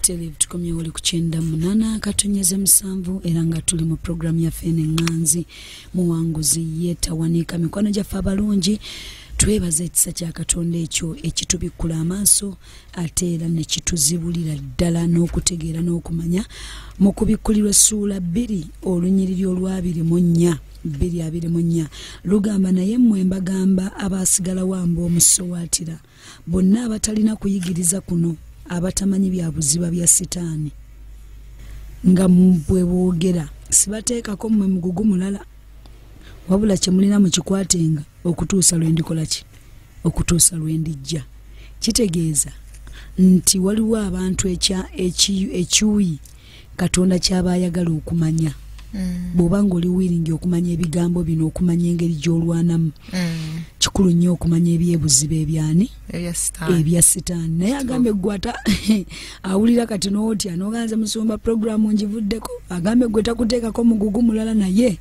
tele tukomye wali ku kyenda munana katonyeze musanvu era nga tuli mu programu yaffe eno eŋŋanzi muwanguzi yeetawanika mikwano gyaffe abalungi twebaza ekisa kya katonda ekyo ekitubikkula amaaso ate era nekituzibulira ddala n'okutegeera n'okumanya mu kubikkulirwa essuula bbiri olunyiriri olwabiri mu nnya bbiri abiri mu nnya lugamba naye mmwe mbagamba abaasigalawo amba omusowaatira bonna abatalina kuyigiriza kuno abatamanyi bya buziba bya sitaani nga bwe boogera sibateekako mmwe mugugu mulala wabula kye mulina mukikwatenga okutuusa lwe ndikola ki okutuusa lwe ndijja kitegeeza nti waliwo abantu ekyuyi katonda kyaba ayagala okumanya mm. bwoba nga oli wiringi okumanya ebigambo bino okumanya engeri gyolwanamu mm. kikulu nnyo okumanya ebyebuziba ebyani ebya sitaani naye agambe gwata awulira kati notya noganze musumba programu njivuddeko agambe gwe takuteekako mugugu mulala naye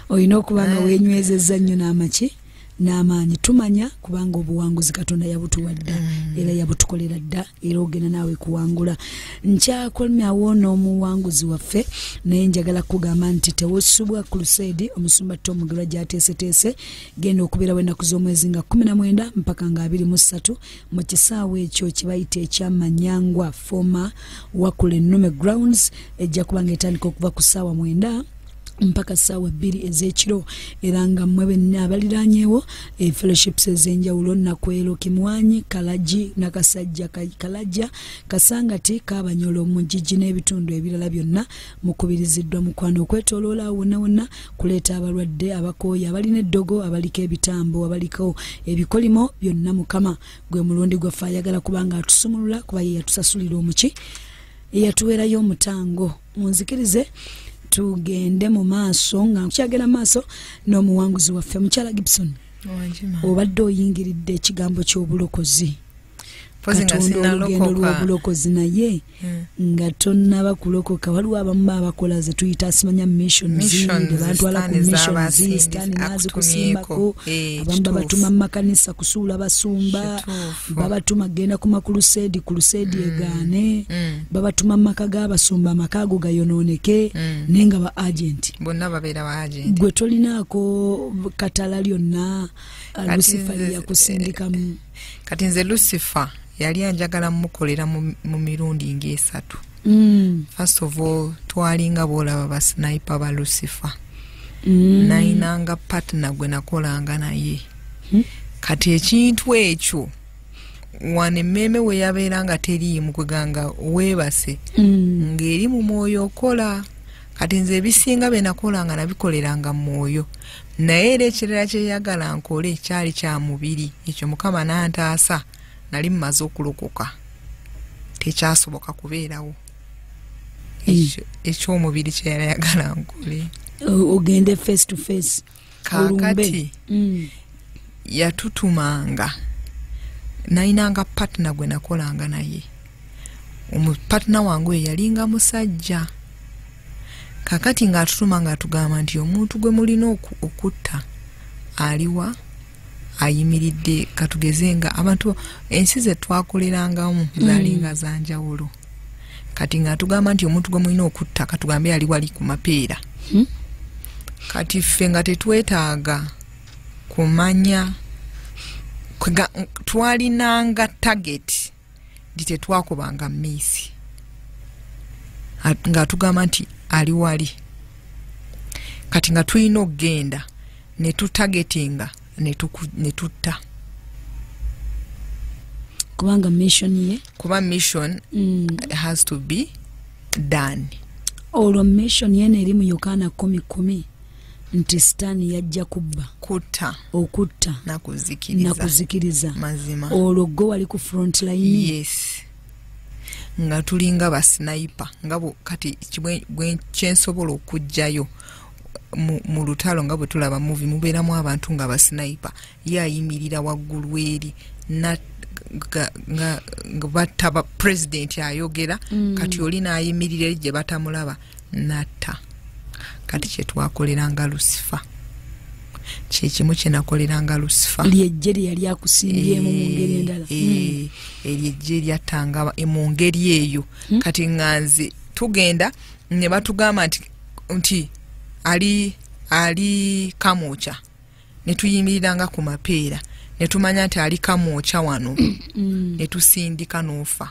olina okuba nga eh. wenywezezza nnyo n'amaki n'amaanyi tumanya kubanga obuwanguzi katonda yabutuwa dda mm. era yabutukolera dda era ogenda naawe kuwangula nkyakolinawo n'omuwanguzi waffe naye njagala kugamba nti tewosubwa crusade omusumba tomugerwa gyateeseteese genda okubeerawo ennaku z'omwezi nga 19 mpaka nga 23 mu kisaawe ekyo kibayita ekyamanyangwa foma wakula ennume grounds ejja kuba nga etandika okuva ku ssaawa mwenda mpaka saawa bbiri ez'ekiro era nga mmwe benna abaliranyewo e fellowships ez'enjawulo nakwero kimwanyi kalagi nakasajja kalajja kasangati kabanyolo mugigi n'ebitundu ebirala byonna mukubiriziddwa mukwano okwetoloola wonna wonna kuleeta abalwadde abakooyi abalina eddogo abaliko ebitambo abaliko ebikolimo byonna mukama gwe mulundi gwaffe ayagala kubanga atusumulula kuba ye yatusasulira omuki eyatuweerayo omutango munzikirize tugende mu maaso nga nkyagenda maaso n'omuwanguzi waffe mukyala gibson obadde oyingiridde ekigambo ky'obulokozi katonda olugendo lw'obulokozi naye hmm. nga tonnaba kulokoka waliwo abamu babakola ze tuyita asimanya missionsbantwala ku missionsitani naazikusimbako eh, abamu babatuma mu makanisa kusuula basumba babatuma genda ku makuluseedi kuluseedi mm. egaane mm. babatuma mu maka g'abasumba amaka ago gayonooneke mm. naye nga ba agenti bonna babeera ba agenti gwe tolinaako katala lyonna uh, lusifa lyeyakusindikamu eh, kati nze lusifa yali anjagala mukolera mu mirundi ng'esatu mm. first of all twalinga bwolaba basnipe ba lucifer mm. nayinanga partner gwe nakolanga naye hmm? kati ekintu ekyo wano emmeeme we yabeera nga teriimu kweganga weebase mm. ng'eri mu mwoyo okola kati nze ebisinga bye nakola nga nabikoleranga mu mwoyo naye era ekirala kyeyagala nkole kyali kya mubiri ekyo mukama n'antaasa nali mumaze okulokoka tekyasoboka kubeerawo hmm. ekyomubiri kyeyali ayagala nkole ogende face to face kakati hmm. yatutumanga nayinanga patna gwe nakolanga naye omupatna wange oyo yalinga musajja kakati ngaatutuma ngaatugamba nti omuntu gwe mulina okutta aliwa ayimiridde katugeze nga abantu ensi ze twakolerangamu mm. zalinga mm. zanjawulo kati nga tugamba nti omuntu gwe mulina okutta katugambe yali wali ku mapeera hmm? kati ffe nga tetwetaaga kumanya twalinanga tageti nti tetwakubanga miisi ng'atugamba nti ali wali kati nga tulina okugenda ne tutagetinga ne tutta kubanga mission ye kuba mission mm. has to be done olwo mission yena eri mu yokaana kumi kumi nti sitaani yajja kubba kutta okutta nakuzikiriza mazima olwo gwe wali ku front line yes nga tulinga basinayipa nga kati kyensobola okugjayo mu lutalo nga bwetulaba muvi mubeeramu abantu nga basinayipa ye ayimirira waggulu eri nga batta pulezidenti ayogera mm. kati oli naayimirira eri gye batamulaba natta kati kyetwakoleranga lusifa kyekimu kyenakoleranga lusifa lyejje lyeyali akusimbyemu mu ngeri eh, endala eh, mm. eryejje eh, lyattanga mu ngeri eyo mm. kati nga nze tugenda ne batugamba nti nti ali ali kamokya ne tuyimirira nga ku mapeera ne tumanya nti ali kamwokya wano mm. ne tusindika n'ofa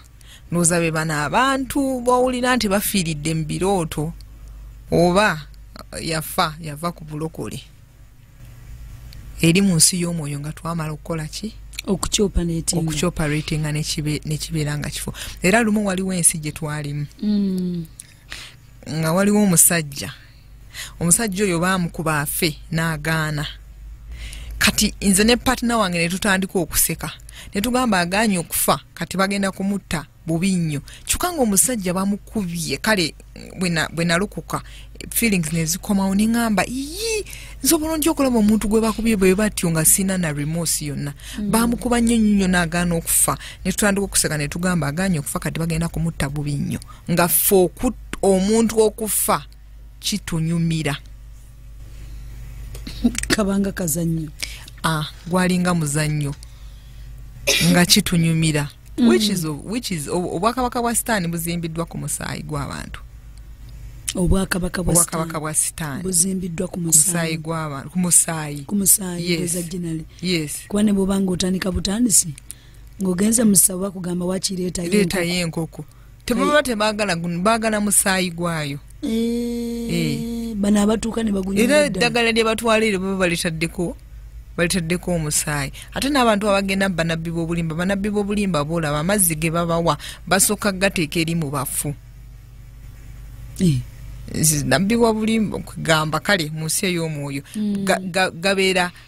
ndowooza be bano abantu bowulira nti bafiiridde mu birooto oba yafa yava ku bulokole eri mu nsi y'omwoyo nga twamala okukola ki okukyoparatinga nekibeera nga kifo era lumu waliwo ensi gye twalimu mm. nga waliwo omusajja omusajja oyo baamukuba afe n'agaana kati nze ne patina wange ne tutandika okuseka ne tugamba agaanye okufa kati bagenda kumutta bubi nnyo kyokka nga omusajja bamukubye kale bwe nalokoka feelings nezikomawo neŋamba iyi nze obulungi okulaba omuntu gwe bakubye bwe batyo nga sina na remorse yonna mm. bamukuba nnyo nnyo nagaana okufa ne tutandika okuseka ne tugamba aganye okufa kati bagenda kumutta bubi nnyo nga ffe omuntu okufa kitunyumira kabanga kazannyo ah, gwalinga muzannyo nga kitunyumira mm. obwakabaka bwa sitaani buzimbiddwa ku musaayi gw'abantu obwakabaka bwa sitaani buzimbiddwa ku musaayi gw'abantu ku musaayi kuba ne bwobanga otandika butandisi ng'ogenze musaba kugamba wakireetayo enkoko tebaba tebagala guno bagala musaayi gwayo eh, eh. bano abatuuka nebaguera eddagala lye batwala eryo baba balitaddeko balitaddeko omusaayi ate n'abantu abagenda mu banabbi b'obulimba banabbi b'obulimba boolaba amazzi ge babawa basooka gateeka eri mu bafu eh. nabbi wa bulimba kugamba kale mu nsi ey'omwoyo mm. gabeera ga, ga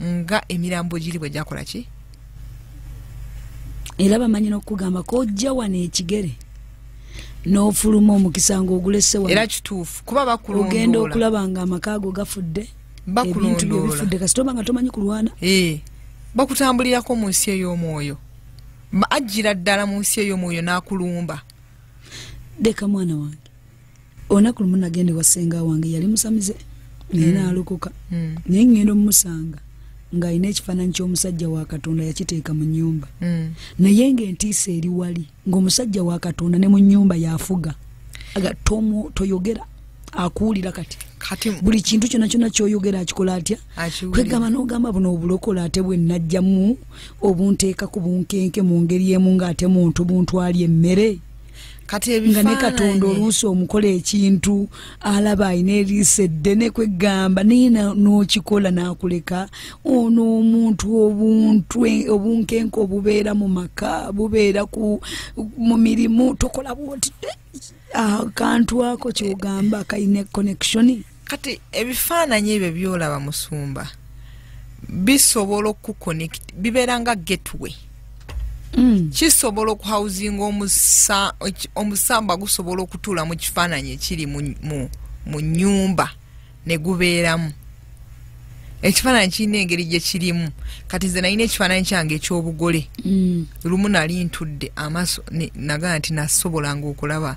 nga emirambo giri bwe gyakola ki era bamanyi n'okukugamba kojja wano ekigere n'ofuluma omukisa ng'ogulesewa era kituufu kuba bakulondoola ogenda okulaba nga amaka ago gafudde ebintu byo bifudde kasita oba nga tomanyi kulwana eh, bakutambulirako mu nsi ey'omwoyo ajjira ddala mu nsi ey'omwoyo n'akulumba leka mwana wange olunaku lumu nagenda ewa senga wange yali musamize naye mm. naalokoka mm. naye ngenda omumusanga ng'alina ekifaananyi ky'omusajja wa katonda yakiteeka mu nyumba mm. naye ng'entiisa eri wali ng'omusajja wa katonda ne mu nyumba yafuga aga tomu toyogera akuwulira kati buli kintu kyona kyona kyoyogera akikola atya kwegamba nogamba buno obulokola ate bwenajjamu obunteekaku bunkenke mu ngeri emu ng'ate muntu buntu ali emmere nga ne katonda oluusi omukola ekintu alaba alina eriisa eddene kweggamba naye n'okikola n'akuleka ono omuntu obuntu obunkenke obubeera mu maka bubeera mu mirimu tokola bwoti akantu ako kyogamba kalina connection kati ebifaananyi ebyo byolaba musumba bisobola okukonect bibeera nga gateway Mm. kisobola okuhausinga omusamba gusobola okutuula mu kifaananyi ekiri mu nyumba ne gubeeramu ekifaananyi kirina engeri gye kirimu kati nze nalina ekifaananyi kyange ekyobugole mm. lumu nali ntudde amaaso nagaa nti nasobolanga okulaba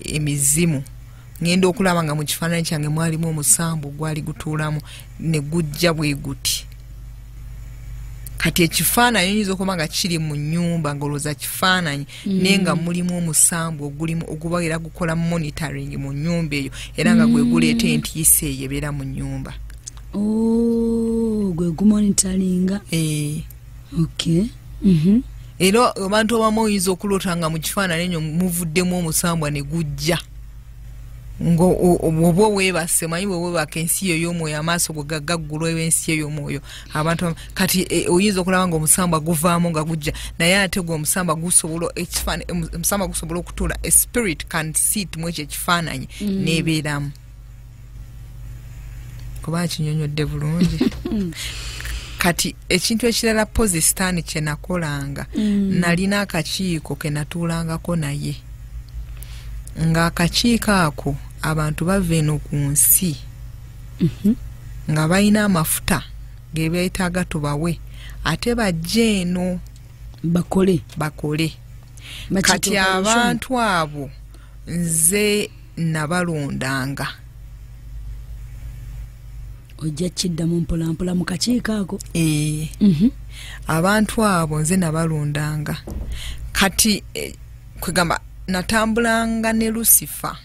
emizimu ŋŋenda okulaba nga mu kifaananyi kyange mwalimu omusambu gwali gutuulamu ne gujja bwe guti kati ekifaananyi oyinza okuba nga kiri mu nyumba ngaolowooza kifaananyi mm. naye nga mulimu omusambu ogulimu oguba era gukola monitoring mu nyumba eyo era nga gwe guleeta mm. entiisa eyo ebeera mu nyumba oh, gwe gumonitoringa eh. okay. mm -hmm. era abantu abamu oyinza okuloota nga mu kifaanani enyo muvuddemu omusambwa ne gujja ngaoba owebase omanyi bwewebaka ensi yo yomwoyo amaaso go gagaggulwa ensi yo yomwoyo abantu kati e, oyinza okulaba nga omusambwa guvaamu nga gujja naye ate gwe omusambwa gusobola omusambwa gusobola okutuula espirit can sit mwekyo ekifaananyi mm. nebeeramu kuba akinyonyodde bulungi kati ekintu ekirala pozi sitaani kyenakolanga mm. nalina akakiiko kenatuulangako naye ng'akakiiko ako abantu bava eno ku nsi mhm. nga balina amafuta gebeetaaga tubawe ate bajje eno bakole bakole kati abantu abo nze nabalondanga ojja kiddamu mpolampola mu kakiiko ako ee mhm. abantu abo nze nabalondanga kati eh, kwegamba natambulanga ne lusifa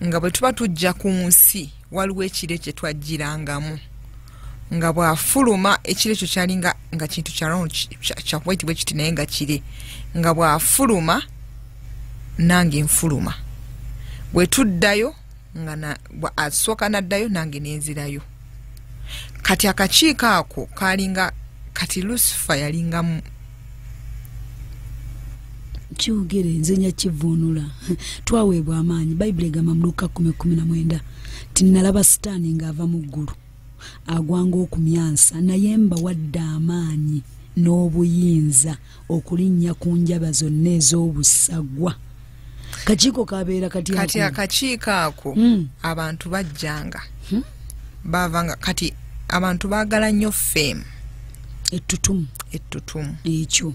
nga bwe tuba tujja ku nsi waliwo ekiro ekye twajjirangamu nga bwafuluma ekiro ekyo kyali nga kintu kyakuba ekitibwa ekiti naye nga kire nga bwafuluma nange nfuluma bwe tuddayo nga asooka naddayo nange nenzirayo kati akakiiko ako kalinga kati lusifa yalingamu kyogere nze nyakivuunula twaweebwa amaanyi bayibuli egamba muluka kumi kumi na mwenda ti nalaba sitaani ng'ava mu ggulu agwanga okumyansa naye mbawadde amaanyi n'obuyinza okulinnya ku njaba zonna ez'obussagwa kakiiko kabeera kati kati akakiiko ako hmm. abantu bajjanga hmm? bavanga kati abantu bagala nnyo fame ettutumu ettutumu ekyo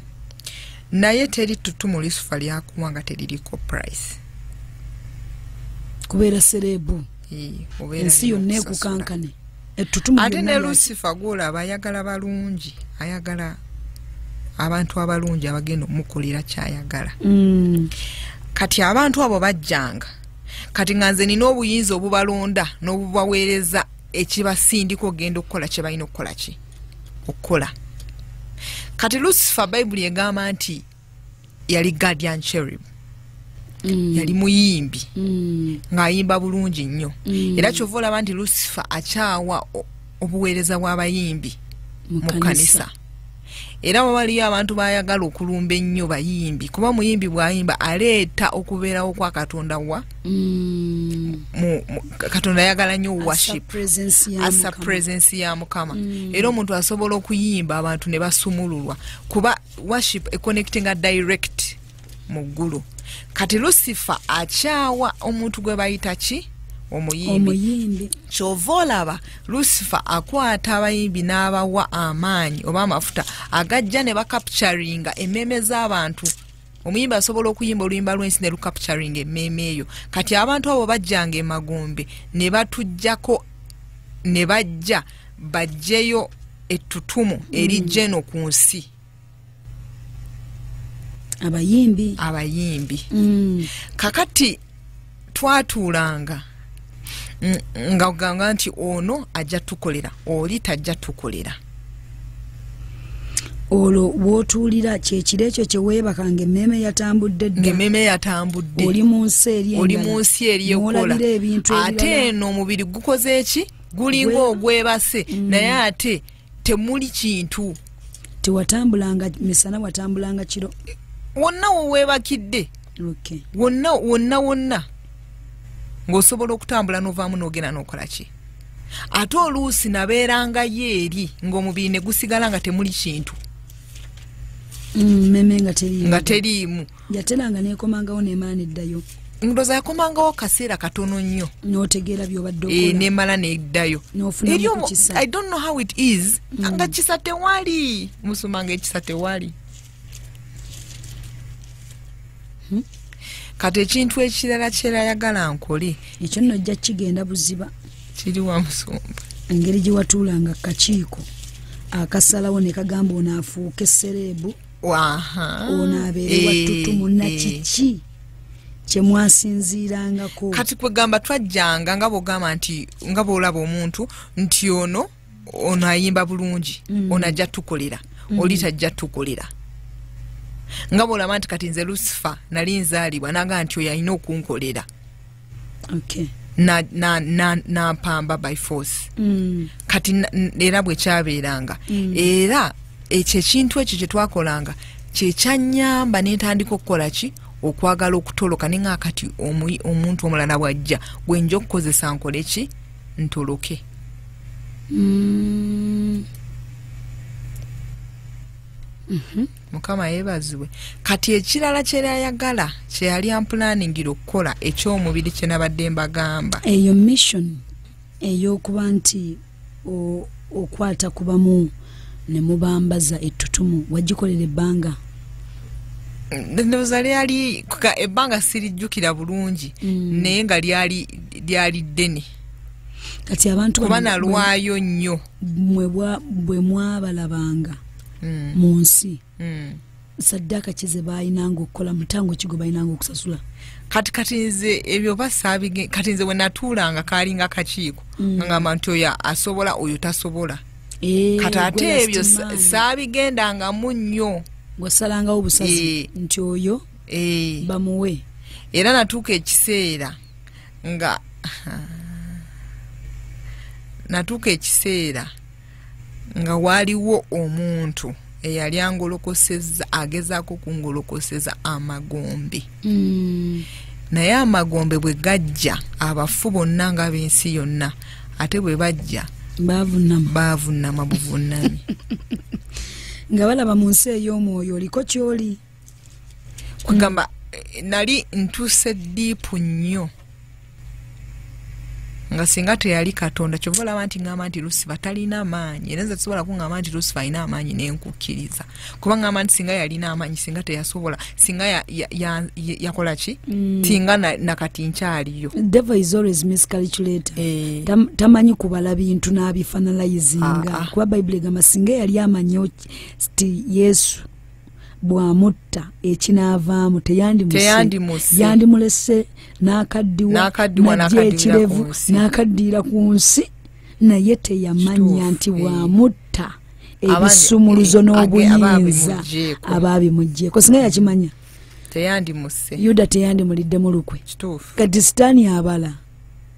naye teri ttutumu lisufa lyakuwa nga teririko price kubeera serebu ensi yonna ekukankane ate ne lusifa gwola aba ayagala balungi ayagala abantu abalungi abagenda omukolera kyayagala mm. kati abantu abo bajjanga kati nga nze nina obuyinza obubalonda n'obubaweereza ekibasindika ogenda okukola kye balina okukola ki okukola kati lusifa bayibuli egamba nti yali guardian cherub Mm. yali muyimbi mm. ng'ayimba bulungi nnyo mm. era kyova olaba nti lusifa akyawa obuweereza bw'abayimbi mu kanisa era wawaliyo abantu bayagala okulumba ennyo bayimbi kuba omuyimbi bwayimba aleeta okubeerawo kwa katonda wa mm. katonda ayagala nnyo worship asa presence ya mukama mm. era omuntu asobola okuyimba abantu ne basumululwa kuba worship econnectinga direct mu ggulu kati lusifa akyawa omuntu gwe bayita ki omuyimbi kyova olaba lusifa akwata abayimbi n'abawa amaanyi oba amafuta agajja ne bakapturinga emmeeme z'abantu omuyimbi asobola okuyimba oluyimba lwensi ne lukapturinga emmeeme eyo kati abantu abo bajjanga emagombe ne batugyako ne bajja ne bajjeyo ettutumu eri jeno mm. ku nsi abayimbi abayimbi mm. kakati twatuulanga nga ogamba nti ono ajja tukolera oli tajja tukolera olwo wotuulira kyekiro ekyo kyeweebakanga emmeeme yatambudde ddaemmeeme yatambudde oli mu nsi eri eri eyokolabira ebintu ate eno omubiri gukoze eki gulinga ogwebase mm. naye ate temuli kintu tewatambulanga misana watambulanga kiro wonna wewebakidde okay. wonna wonna wonna ng'osobola okutambula n'ovaamu n'ogenda n'okola ki ate oluusi nabeerangayo eri ng'omubiri ne gusigala nga temuli kintu mm, meme nga teriimu yateranga nekomangawo nemaana eddayo ndoza yakomangawo kaseera katono nnyo notegeera byobadde eh, nemala neddayo i don't know how it is mm. nga kisa tewali musumanga ekisa tewali hmm? kati ekintu ekirala kyerayagala nkole ekyo nno ojja kigenda buziba kiri wa musumba engeri gye watuulanga kakiiko akasalawo ne kagamba onaafuuka essereebu ono abeere eh, wattutumu na eh. kiki kyemwasinziirangako kati kwegamba twajjanga nga bwogamba nti nga bwolaba omuntu nti ono ono ayimba bulungi mm. ono ajja tukolera mm. oli tajja tukolera nga bwolaba nti kati nze lusifa nali nzaalibwa naga nti oyo alina okunkolera okay. na, na, na, na mpamba by force mm. kati era bwekyabeeranga mm. era ekyo ekintu ekyo kyetwakolanga kyekyanyamba nentandika okukola ki okwagala okutoloka ne nga kati omuntu omulala bwajja gwenja okukozesa nkole ki ntoloke mm. mm -hmm. mukama yebazibwe kati ekirala kyerayagala kyeyali ampulaningira okukola ekyomubiri kyenabadde mbagamba eyo mission eyokuba nti okwata kubamu nemubambaza ettutumu wagikolera ebbanga ndoza lyali ebbanga sirijjukira bulungi mm. naye nga lyali lyali ddene kati abantu kuba nalwayo nnyo bwe mwabalabanga mm. mu nsi mm. saddaaka ki ze baalinanga okukola mutango kigo balinanga okusasula kati kati nze ebyo basaabige kati nze we natuulanga kaalinga kakiiko mm. ngamba nti oyo asobola oyo tasobola eh, kati ate ebyo saabigendangamu nnyo gwasalangawo obusazi eh. nti oyo eh. bamuwe era natuuka ekiseera nga natuuka ekiseera nga waaliwo omuntu eyali angolokoseza agezaako okungolokoseza amagombe mm. naye amagombe bwe gajja abafu bonna nga b'ensi yonna ate bwe bajja baavunama buvunami nga balaba mu nsi ey'omwoyo oliko kyoli kwegamba eh, nali ntuuse diipu nnyo nga singa teyali katonda kyova olaba nti ngamba nti lusifa talina amaanyi era nze tusobola kungamba nti lusifa alina amaanyi nenkukkiriza kuba ngamba nti singa yalina amaanyi singa teyasobola singa yakola ki mm. tinga nakati nkyaliyo eh. tamanyi kubala bintu n'abifanalayizinga ah, ah. kuba bayibuli egamba singa yali amanyi ti yesu bwamutta ekinaavaamu teyandimulese n'akaddiwa najja ekirevu n'akaddiira ku nsi naye teyamanya nti bwamutta ebisumuluzo eh, n'obuyinza abaabimugyeko singa yakimanya yuda teyandimuliddemu lukwe kati sitaani abala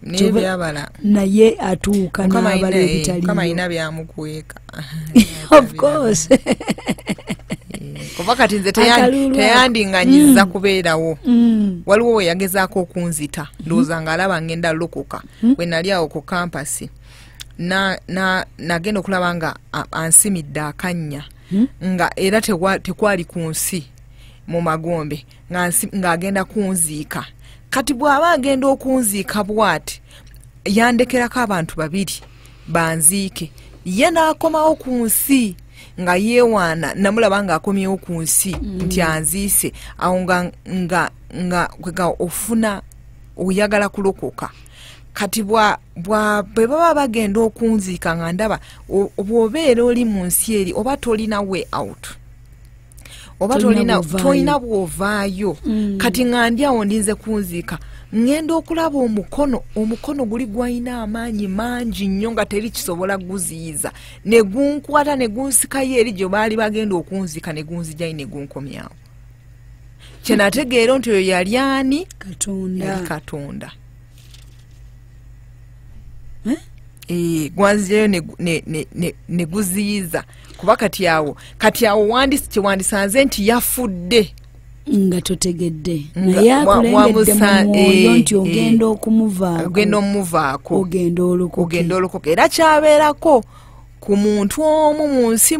nebyabala naye atuuka nabala ebitalialina byamukweka kuba kati nze teyandinganyiza mm. kubeerawo mm. waliwo weyagezaako okunzita mm-hmm. ndowooza nga alaba ngenda lokoka mm. bwe nali awo ku kampasi nagenda okulaba nga ansimidde akannya nga era tekwali ku nsi mu magombe ng'agenda kunziika kati bw'aba agenda okunziika bwati yandekerako abantu babiri banziike ye n'akomawo ku nsi nga yeewaana namulaba ng'akomyewo ku nsi mm. nti anziise awo nga nga nga kwega ofuna oyagala kulokoka kati bwe baba bagenda okunziika nga ndaba bw'obeera oli mu nsi eri oba tolina way out oba tolina bwovaayo mm. kati nga ndi awo ndinze kunziika ŋŋenda okulaba omukono omukono guli gwalina amaanyi mangi nnyo nga teri kisobola guziyiza ne gunkwata ne gunsikayo eri gye baali bagenda okunziika ne gunzijayo ne gunkomyawo kyenategeera nti oyo yali ani yali katonda eh? Eh, gwanzijayo ne guziyiza kuba kati awo kati awo wandisi kyewandisanze nti yafudde nga totegedde naye akulengedde mu mwoyo nti eh, ogenda eh, okumuvaakogenda omuvaako ogenda olukogenda olukoka era kyabeerako ku muntu omu mu nsi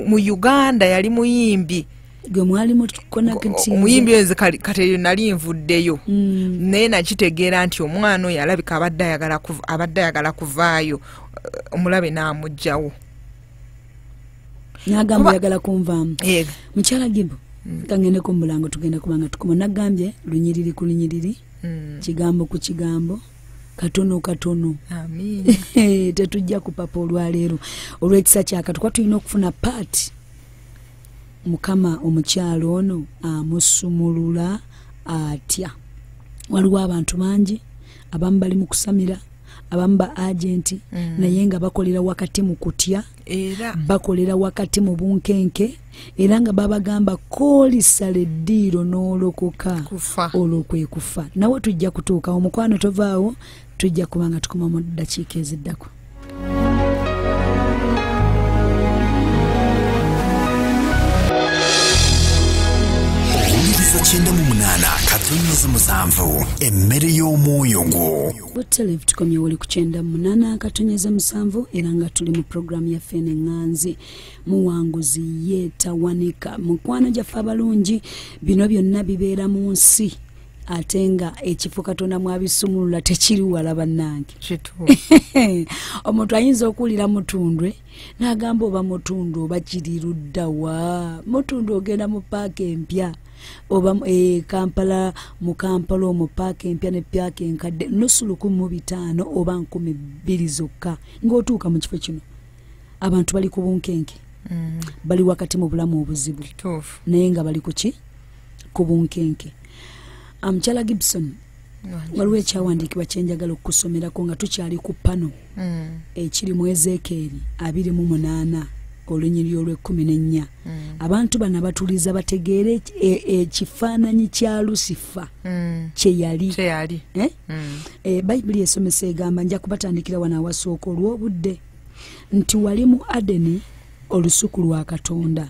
mu uganda yali muyimbi gwe mwali mukonamuyimbi oyo nze kateyo nali nvuddeyo mm. naye nakitegeera nti omwana oyo alabika abadde ayagala kuvaayo omulabe n'amugjawo nagamba oyagala kunvaamu mukyala gibo mm. kangendeko mubulango tugenda kubanga tukoma nagambye lunyiriri ku lunyiriri mm. kigambo ku kigambo katono katono tetujja kupapa olwaleero olwekisa kyakatukuba tulina okufuna paati mukama omukyalo ono amusumulula atya waliwo abantu bangi abamu bali mu kusamira abamu ba agenti mm. naye nga bakolera wakati mu kutya era bakolera wakati mu bunkenke era nga babagamba kolisala eddiiro n'olokoka olwo kwe kufa nawe tujja kutuuka omukwano tovaawo tujja kuba nga tukuma mu ddakiika eziddako owuliriza kyenda mu munaana katonnyeza musanvu emmere y'omwoyo gwo butelev tukomye wali ku kyenda mu munaana katonyeza musanvu era nga tuli mu puroguramu yaffe eneng'anzi muwanguzi ye tawanika mukwano gyaffe abalungi bino byonna bibeera mu nsi ate nga ekifo katonda mwabisumulula tekiri wala bannange omuntu ayinza okuwulira mutundwe n'agamba oba mutundwe oba kiri ludda wa mutundwe ogenda mu paaka empya oba e, kampala mu kampala omu paaka empya ne paaka enkadde nusu lukumi mu bitaano oba nkumi bbiri zokka ng'otuuka mu kifo kino abantu bali ku bunkenke mm. bali wakati mu bulamu obuzibu naye nga bali ku ki ku bunkenke amukyala um, gibson waliwo ekyawandiikibwa kyenjagala okukusomerako nga tukyali ku pano mm. ekiri mu ezekeeri abiri mu munaana olunyiri olwekumi nennya mm. abantu bano abatuliza bategeere e, ekifaananyi kya lusifa mm. kyeyali eh? eh, bayibuli esomesa egamba nja kubatandikira wano awasooka olw'obudde nti wali mu adeni olusuku lwa katonda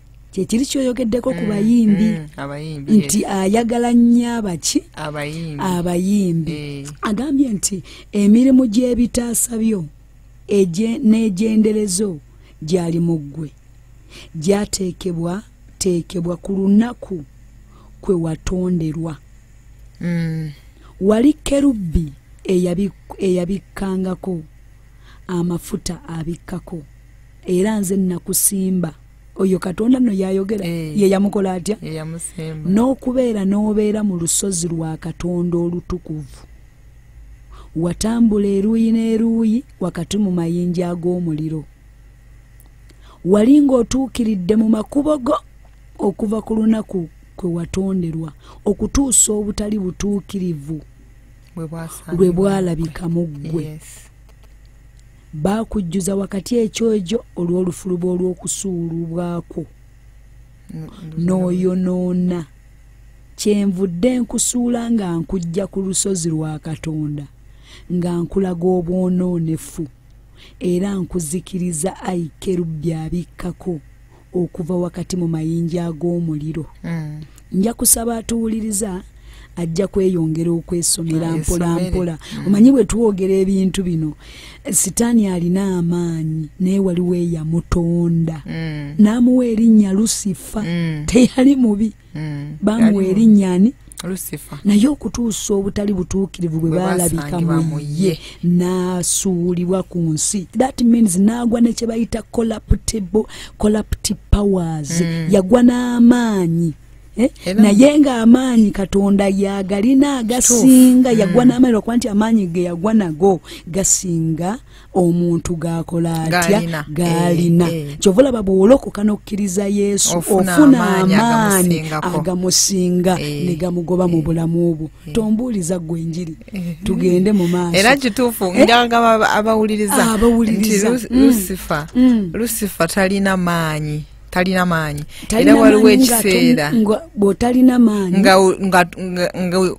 kyekiri kyoyogeddeko ku mm, bayimbi mm, nti ayagala nnyo abaki abayimbi eh. agambye nti emirimu gy'ebitaasa byo n'egyenderezo gyali mu ggwe gyateekebwa teekebwa ku lunaku kwe watonderwa mm. wali kerubbi eyabikkangako amafuta abikkako era nze nakusimba oyo katonda no yayogera hey. Eh. yeyamukola atya n'okubeera n'obeera mu lusozi lwa katonda olutukuvu watambula eruuyi n'eruuyi wakati mu mayinja ag'omuliro wali ng'otuukiridde mu makubo go okuva ku lunaku kwe watonderwa okutuusa obutali butuukirivu lwe bwalabika mu ggwe yes. baakujjuza wakati ekyojo olw'olufuluba olw'okusuulubwakwo n'oyonoona kyenvudde nkusuula nga nkujja ku lusozi lwa katonda nga nkulaga obwonoonefu era nkuzikiriza ayi kerubbi abikkako okuva wakati mu mayinja ag'omuliro mm. nja kusaba atuwuliriza ajja kweyongera okwesomera ah, mpolampola mm. omanyi bwe twogera ebintu bino sitaani alina amaanyi naye waliwo eyamutonda mm. n'amuwa erinnya lusifa mm. teyali mubi mm. bamuwa erinnya ani naye okutuusa obutali butuukirivu bwe baalabika mu ye n'asuulibwa ku nsi that means n'agwa ne kye bayita collaptible collapti powers mm. yagwa n'amaanyi Eh? naye ng'amaanyi katonda yagalina agasinga yagwa mm. n'amaanyi lwakuba nti amaanyi ge yagwa nago gasinga omuntu gakola atya galina eh, eh. kyova olaba bwewolokoka nokkiriza yesu ofuna amaanyi agamusinga eh, ne gamugoba mu bulamu obwo tombuuliza gwe enjiri tugende mu maaso era kituufu nganga abawuliriza abawuliriza lusifa lusifa talina maanyi talina maanyi era waliwo ekiseera bwotalina maanyi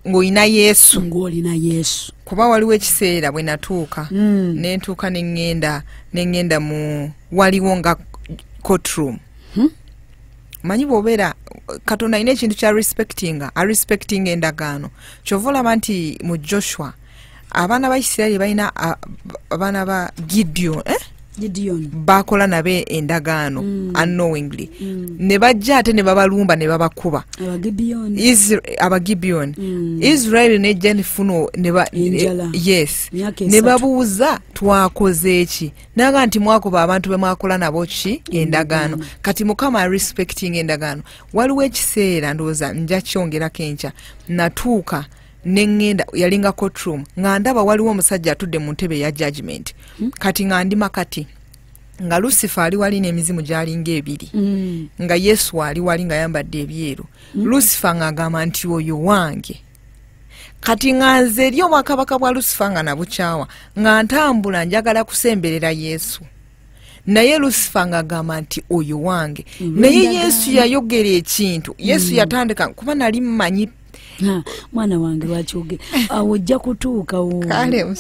ngaolina yesu ngaolina yesu kuba waliwo ekiseera bwe natuuka hmm. nentuuka neŋŋenda neŋŋenda mu waliwo nga cotroom hmm? manyi bwobeera katonda alina ekintu kya respectinga arespectinga endagaano kyova olaba nti mu joshua abaana ba isirairi balina abaana ba gideon eh? bakola nabo endagaano mm. unknowingly mm. ne bajja ate ne babalumba ne babakuba abagibiyoni mm. israeli nejja nefuna yes ne babuuza twakoze eki naga nti mwakuba abantu bemwakola nabo ki endagaano kati mukama respecting endagaano waliwo ekiseera ndowooza njakyongerako enkya natuuka ne ŋŋenda yalinga cotroom nga ndaba waliwo omusajja atudde mu ntebe eya judgment hmm? kati nga ndi makati nga lusifa ali wali n'emizimu gyalinga ebiri hmm. nga yesu ali wali nga yambadde ebyeru hmm. lusifa ng'agamba nti oyo wange kati nga nze eri obwakabaka bwa lusifa nga nabukyawa nga ntambula njagala kusemberera yesu naye lusifa ng'agamba nti oyo wange naye yesu yayogera ekintu yesu mm. yatandika kuba nali mmanyi mwana wange lwakyoge awo ojja kutuukawo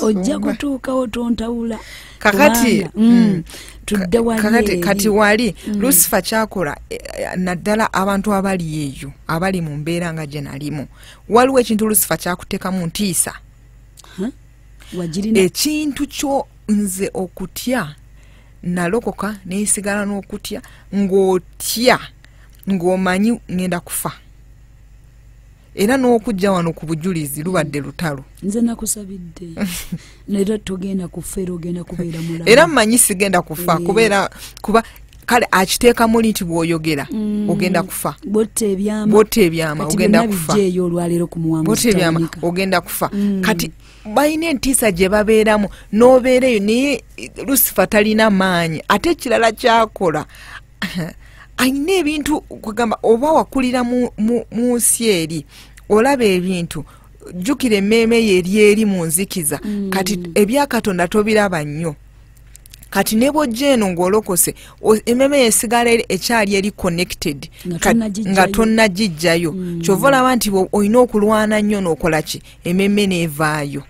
ojja kutuukawo tontawula kakati mm. mm. tudde wali kati wali mm. lusifa kyakola eh, eh, naddala abantu abali eyo abali mu mbeera nga gye nalimu waliwo ekintu lusifa kyakutekamu ntiisa wagirina ekintu kyo nze okutya nalokoka nesigala n'okutya ng'otya ng'omanyi ngenda kufa era n'okujja wano ku bujulizi lubadde lutalo nze nakusabidde era togenda kufa era ogenda kubeera mulamu era mmanyi sigenda kufa eh. kubeera kuba kale akiteeka muli nti bwoyogera mm. ogenda kufa botta ebyama ogenda kufa botta ebyama ogenda kufa mm. kati balina entiisa gye babeeramu n'obeera eyo naye lusifa talina maanyi ate ekirala kyakola alina ebintu kugamba oba wakulira mu nsi eri olaba ebintu jjukira emmeeme ye eri eri mu nzikiza mm. kati ebyakatonda tobiraba nnyo kati ne bwojja eno ng'olokose ememe yesigala ekyali eri connected nga tonnagijjayo mm. kyova olaba nti olina okulwana nnyo n'okola ki ememe neevaayo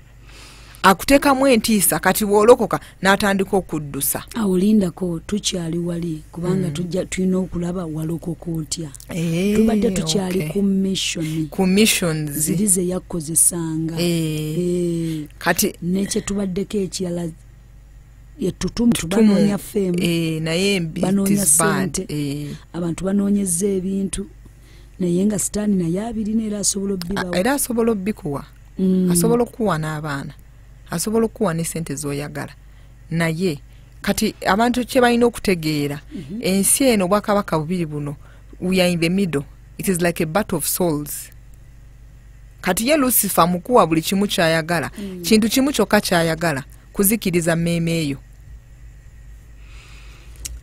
akuteekamu entiisa kati bw'olokoka n'atandika okuddusa awolindako tukyali wali kubanga mm. tulina okulaba walokoka otya Eh, tubadde tukyali ku mission ku missions ziri ze yakozesanga eh. eh. kati nekyetubaddeko ekirala yetutumtubanoonya femu naye banoonya sente abantu banoonyeza ebintu naye nga sitaani naye abirina era asobola obibawa era asobola obikuwa mm. asobola okukuwa n'abaana asobola okukuwa n'esente z'oyagala naye kati abantu kyebalina okutegeera mhm. ensi eno obwakabaka bubiri buno we are in the middle it is like a battle of souls kati ye lusifa mukuwa buli kimu kyayagala mm. kintu kimu kyokka kyayagala kuzikiriza mmeeme eyo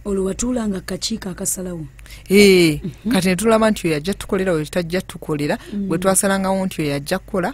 olwo watuula nga kakiiko akasalawo ee eh, mhm. kati netulaba nti oyo ajja tukolera oyo tajja tukolera mm. bwe twasalangawo nti oyo ajja kukola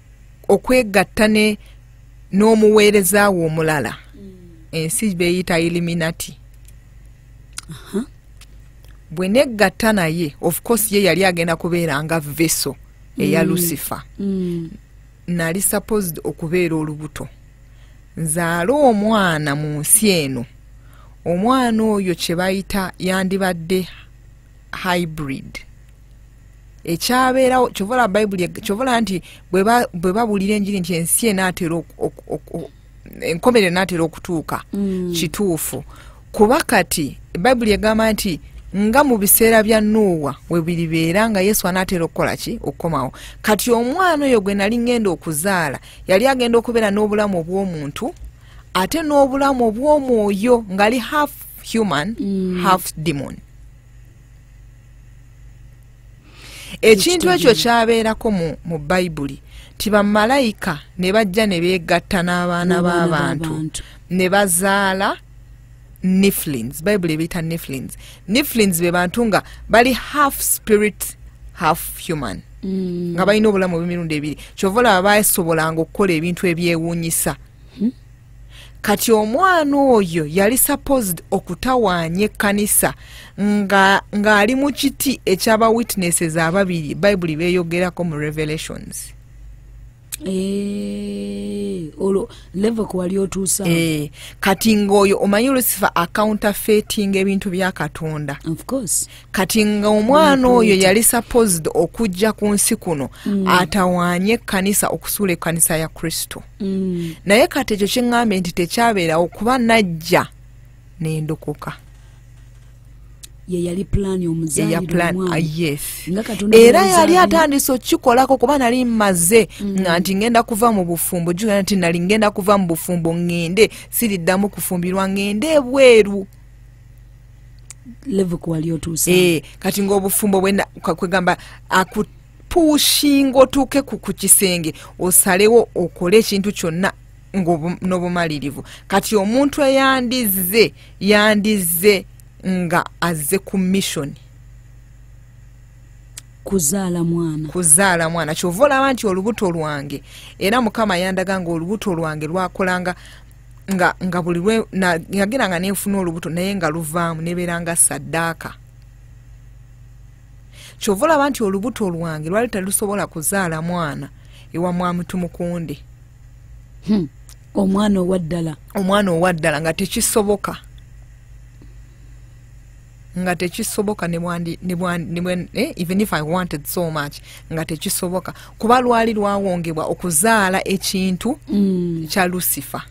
okwegatta ne n'omuweereza wo omulala mm. ensi beyita eliminati bwe negatta naye of course ye yali agenda kubeera nga veso eya mm. lucifer mm. nali supposed okubeera olubuto nzaale omwana mu nsi eno omwana oyo kye bayita yandibadde hybrid ekyabeerawo kyovola bayibuli kyovola nti bwe babuulira enjiri nti ensi enaatera enkomerero enaatera okutuuka mm. kituufu kuba kati bayibuli egamba nti nga mu biseera bya nuuwa webiribeera nga yesu anaatera okukola ki okukomawo kati omwana oyo gwe nali ngenda okuzaala yali agenda okubeera n'obulamu obw'omuntu ate n'obulamu obw'omwoyo ngaali half human mm. half demon ekintu ekyo kyabeerako mu bayibuli nti bamalayika ne bajja ne beegatta n'abaana b'abantu ne bazaala niflins bayibuli ebiyita niflins niflins be bantu nga bali half spirit half human mm. nga balina obulamu obw'emirundi ebiri kyova olaba basobolanga okukola ebintu ebyewuunyisa hmm? kati omwana oyo yali supposed okutawaanya ekkanisa ng'ali nga mu kiti ekyaba witnesses ababiri bayibuli beeyogerako mu revelations Eh, olwo level kwewali otuusa eh, kati ngaoyo omanyi lusifa accounta fetinga ebintu bya katonda kati nga omwana oyo yali supposed okujja ku nsi kuno mm. atawanye ekkanisa okusuula ekkanisa ya kristo mm. naye kati ekyo kyeŋŋambye nti tekyabeerawo kuba najja nendokoka yeyali plan omuzaliyeera ah, yali atandise okikolako kuba nali mmaze mm. nga nti ngenda kuva mu bufumbo jugana nti nali ngenda kuva mu bufumbo ŋŋende siriddamu kufumbirwa ŋŋende ebweru level kwali otuusa eh kati ngobufumbo bwena kwegamba akut pushinga otuuke ku kisenge osalewo okole ekintu kyonna n'obumalirivu kati omuntu eyandizze yandizze nga azze ku missioni kuzaala mwana kuzaala mwana kyova olaba nti olubuto lwange era mukama yandaga nga olubuto lwange lwakolanga nga nga buli lwe nagera nga nenfuna olubuto naye nga luvaamu nebeera nga saddaaka kyova olaba nti olubuto lwange lwali talusobola kuzaala mwana ewa mwamutumukunde hmm. omwana owaddala omwana owaddala nga tekisoboka nga tekisoboka eh, even if i wanted so much nga tekisoboka kuba lwali lwawongebwa okuzaala ekintu mm. kya lucifer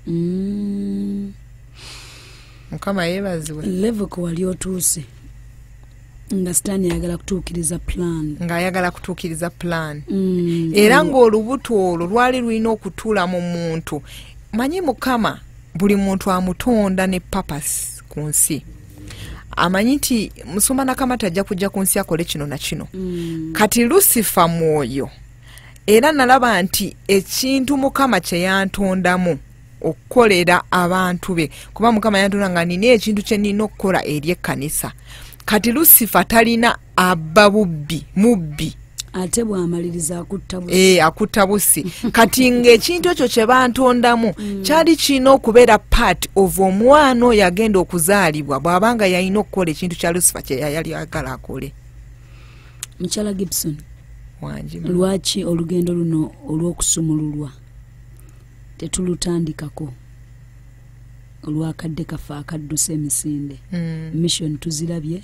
mm. mukama yebazibwe levuko wali otuuse nga sitaani ayagala kutuukiriza plan ng'ayagala kutuukiriza plan mm. era ng'olubuto olwo lwali lulina okutuula mu muntu manyi mukama buli muntu amutonda ne papasi ku nsi amanyi nti musumba nakamata ajja kujja ku nsi akole kino na kino mm. kati lusifa mwoyo era nalaba nti ekintu mukama kyeyantondamu okukolera abantu be kuba mukama yantonda nga nina ekintu kyenina okukola eri ekkanisa kati lusifa talina abba bubbi mubbi ate bwamaliriza akutta busi eh, akutta busi kati ngaekintu ekyo kyebantondamu mm. kyali kirina okubeera part of omwana oyo agenda okuzaalibwa bwabanga yalina okukola ekintu kya lusifa kyeyayali agala akole mukyala gibson lwaki olugendo luno olw'okusumululwa tetulutandikako olwakadde kafe akadduse emisinde mm. mission tuzirabye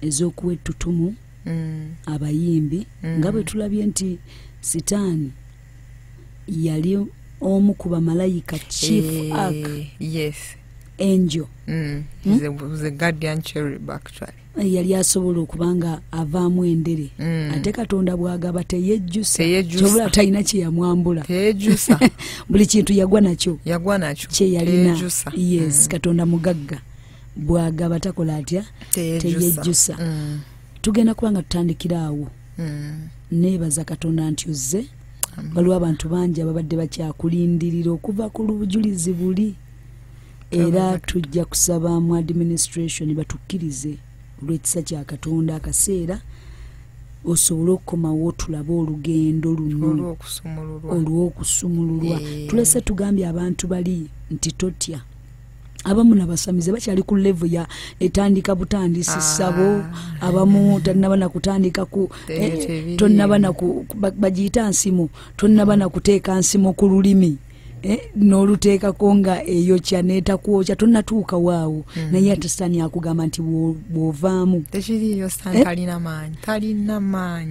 ez'okuwa ettutumu mm. abayimbi mm. nga bwe tulabye nti sitaani yali omu ku bamalayika chief hey, eh, ark yes angel mm. hmm? the, the guardian cherub actually eh, yali asobola okuba nga avaamu endere mm. ate katonda bwagaba teyejjusaobula talina kyeyamwambula buli kintu yagwa nakyo yagwa nakyo kyeyalina yes mm. katonda mugagga bwagaba takola atya teyejjusa mm. tugenda kuba nga tutandikira awo mm. neebaza katonda nti ozze waliwo abantu bangi ababadde bakyakulindirira okuva ku lubujulizi buli era tujja kusaba mu administration batukkirize olw'ekisa kya katonda akaseera osobole okukomawo tulabe olugendo luno olw'okusumululwa eh. tulese tugambye abantu bali nti totya abamu nabasamize bakyali ku levu ya etandika butandisi ah. sabo abamu tanaba nakutandika ku eh, tonaba naku bagiyita nsimu tonaba nakuteeka nsimu ku lulimi eh, noluteekako nga eyokya netakwokya tonatuuka waawo mm. naye ate sitaani akugamba nti bwovaamu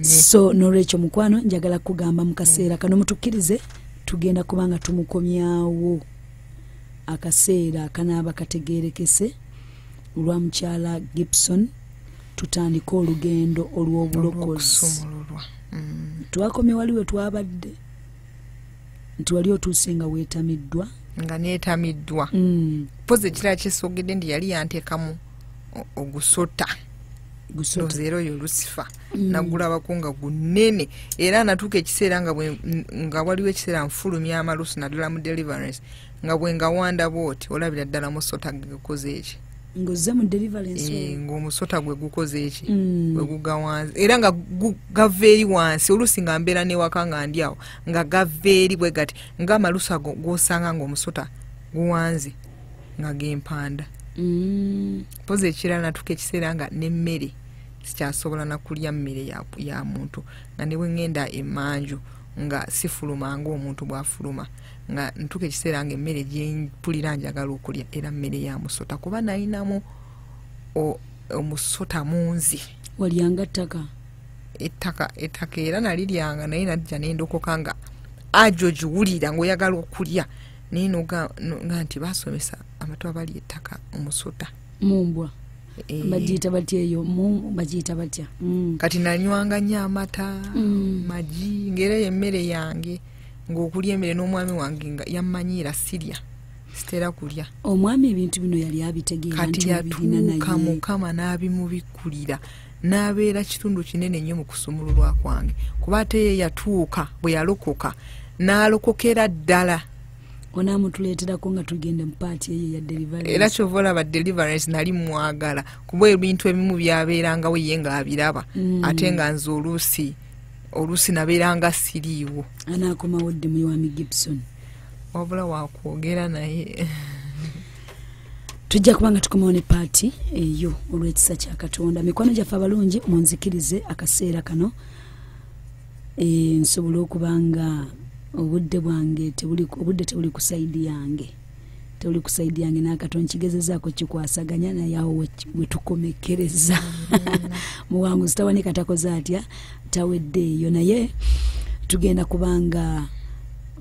eh? so nolwekyo mukwano njagala kukugamba mu kaseera kano mutukkirize tugenda kubanga tumukomyawo akaseera akanaaba kategeerekese olwa mukyala gibson tutandike olugendo olw'obulokozi mm. twakomye wali we twabadde nti wali otuuse nga weetamiddwa nga neetamiddwa mm. pozi ekirala kyesogedde nti yali yanteekamu ogusota gusoza era oyo lusifa mm. nagulabako nga gunene era natuuka ekiseera nga waliwo ekiseera nfulumya amalusu naddala mu deliverance nga bwe nga wanda bwoti olabira ddala musota gukoze eki ngozze mu deliverance eh, ng'omusota gwe gukoze eki mm. gwe guga wansi era nga gava eri wansi oluusi nga mbeera newaka nga ndi awo nga gava eri bwe gati ngaamalusa gosanga ng'omusota guwanze nga gempanda mm. poza ekirala natuka ekiseera nga nemmere sikyasobola nakulya mmere ya muntu nga ne bwe ŋŋenda emanju nga sifuluma ngaomuntu bwafuluma nga ntuka ekiseera nga emmere gyempulira njagala okulya era mmere ya musota kuba nayinamu omusota munzi walyanga ttaka ettaka ettaka era naliryanga naye najja nendokoka nga ajo ogiwulira ngaoyagala okulya naye noga nti basomesa amatu abali ettaka omusota mumbwa Eh. bagiyita batya eyo mu bagiyita batya mm. kati nanywanga nyo amata mm. magi ngaera eyo emmere yange ngaokulya emere n'omwami wange nga yammanyiira sirya sitera kulya omwami ebintu bino yali abitegeerakati yatuuka mukama n'abimubikkulira n'abeera kitundu kinene nnyo mu kusumululwa kwange kuba ate ye yatuuka bwe yalokoka n'alokokera ddala onamutuleterako nga tugende mupaati eyo ya deliverance era kyova olaba deliverance nali mwagala kuba ebintu ebimu byabeerangawo ye nga abiraba mm. ate nga nze oluusi oluusi nabeera nga siriiwo anaakomawo dde muyiwami gibson wabula wakwogera naye tujja kuba nga tukomawo ne paati eyo olw'ekisa kya katonda mikwano gyaffe abalungi munzikirize akaseera kano e, nsobole okuba nga obudde bwange obudde tebuli ku saidi yange toli ku saidi yange nakato nkigezezaako kikwasaganya naye awo wetukomekereza muwanguzi tawanika takoze atya taweddeeyo naye tugenda kubanga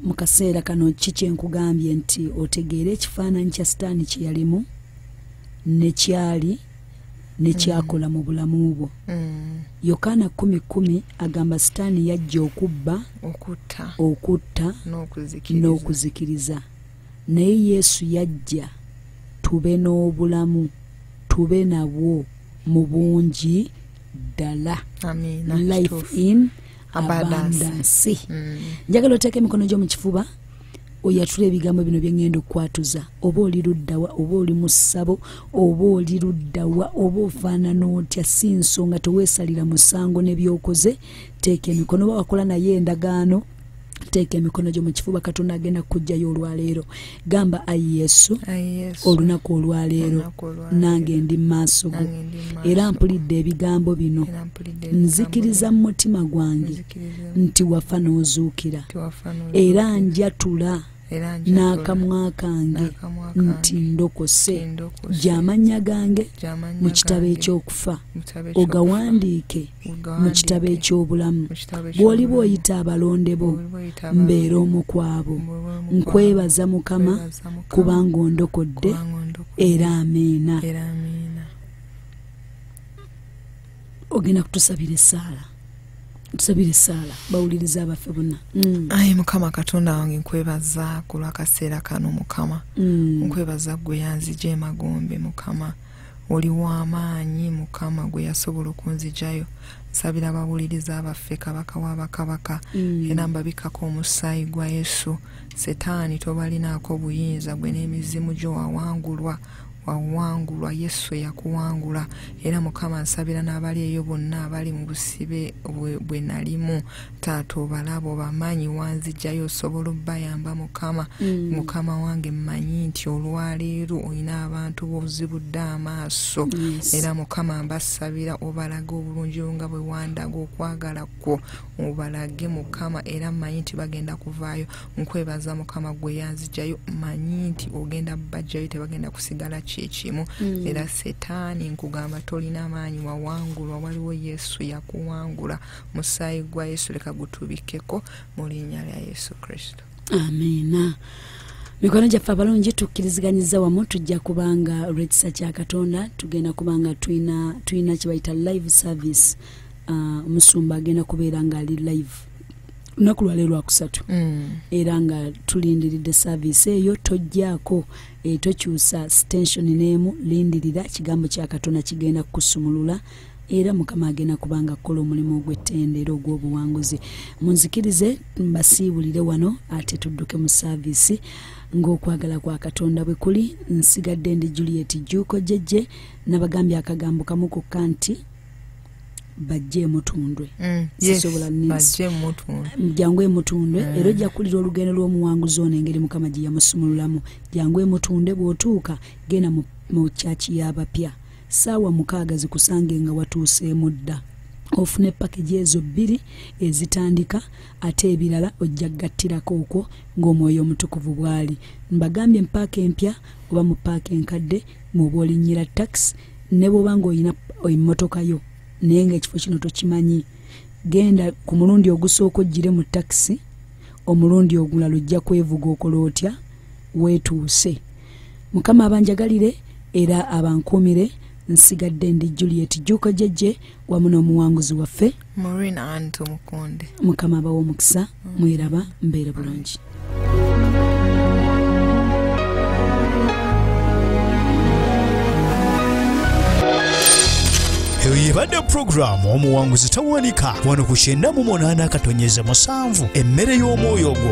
mu kaseera kano ki kyenkugambye nti otegeere ekifaananyi kya sitaani kye yalimu nekyali nekyakola mu bulamu bwo mm. yokaana kumi kumi agamba sitaani yajja okubba okutta n'okuzikiriza naye yesu yajja tube n'obulamu tube nabwo mu bungi ddala life in abandansi mm. njagala oteeka emikono gyo mu kifuba oyatula ebigambo bino byengenda okukwatuza oba oli luddawa oba oli mu ssabo oba oli luddawa oba ofaanana otya si nsonga teweesalira musango nebyokoze teeka emikono oba wakola naye endagaano teeka emikono gyo mu kifuba katonda agenda kukugjayo olwaleero gamba ayi yesu olunaku olwaleero nange ndi mumaaso go era mpulidde ebigambo bino nzikiriza mu mutima gwange nti wafa n'ozuukira era njatula n'akamwa kange nti ndokose gy'amannya gange mu kitabo eky'okufa ogawandiike mu kitabo eky'obulamu bw'oliba oyita abalonde bo mbeera omu kwabo nkwebaza mukama kubanga ondokodde era amiina ogenda kutusabira essaala tusabire esaala bawuliriza abaffe bonna mm. ayi mukama katonda wange nkwebaza ku lwakaseera kano mukama mm. nkwebaza gwe yanzija emagombe mukama oli w'amaanyi mukama gwe yasobola okunzijayo nsabira abawuliriza abaffe kabaka w'abakabaka mm. era mbabikako omusaayi gwa yesu setaani tobalinaako buyinza gwe n'emizimu gyo wawangulwa wawangulwa yesu eyakuwangula era mukama nsabira n'abali eyo bonna abali mu busibe bwe nalimu taata obalabo bamaanyi wanzijjayo osobola obbayamba mukama mm. mukama wange mmanyi nti olwaleero olina abantu bozibudde amaaso era mukama mbasabira obalaga obulungi nga bwe wandaga okwagala kwo obalage mukama era manyi nti bagenda kuvaayo nkwebaza mukama gwe yanzijayo manyi nti ogenda bajjayo tebagenda kusigala kyekimu mm. era setaani nkugamba tolina maanyi wawangulwa waliwo yesu yakuwangula musaayi gwa yesu leka gutubikeko mu linnya lya yesu kristo amiina mikono gyaffe abalungi tukkiriziganyiza wamu tujja kubanga lwekisa kya katonda tugenda kubanga tulina kyebayita live service ah, omusumba uh, agenda kubeera ngaali live lunaku lwali lwakusatu mm. era nga tulindiridde saviisi eyo tojjaako eh, tokyusa stensioni n'emu lindirira kigambo kya katonda kigenda kukusumulula era mukama agenda kubanga kukola omulimu ogw'ettendero ogw'obuwanguzi munzikirize mbasiibulire wano ate tudduke mu saaviisi ng'okwagala kwa katonda bwe kuli nsigadde ndi juliet juuko jejje nabagambye akagambo kamu kokka nti bajje emutundwe mm, sisobola jangu emutundwe mm. era ojja kuwulira olugendo lw'omuwanguzi ono engeri mukama gye yamusumululamu jangu emutundwe bw'otuuka genda mu kyaki y'abapya saawa mukaaga zikusange nga watuuseemu dda ofune pakagi ezo bbiri ezitandika ate ebirala ojja gattirako okwo ng'omwoyo omutukuvu bw'ali mbagambye mu paaka empya oba mu paaka enkadde mwoba olinyira taxi ne bwoba ngaolina emmotoka yo naye nga ekifo kino tokimanyi genda ku mulundi ogusooka ojjire mu taxi omulundi ogulala ojja kwevuga okola otya weetuuse mukama abanjagalire era abankuumire nsigadde ndi juliet juuko jejje wamu n'omuwanguzi waffe marina anto mukunde mukama abawa omukisa mm. mwiraba mbeere bulungi eyo yebadde pulogulaamu omuwanguzi tawanika wano ku kyenda mu munaana akatonyeza musanvu emmere y'omwoyo gwo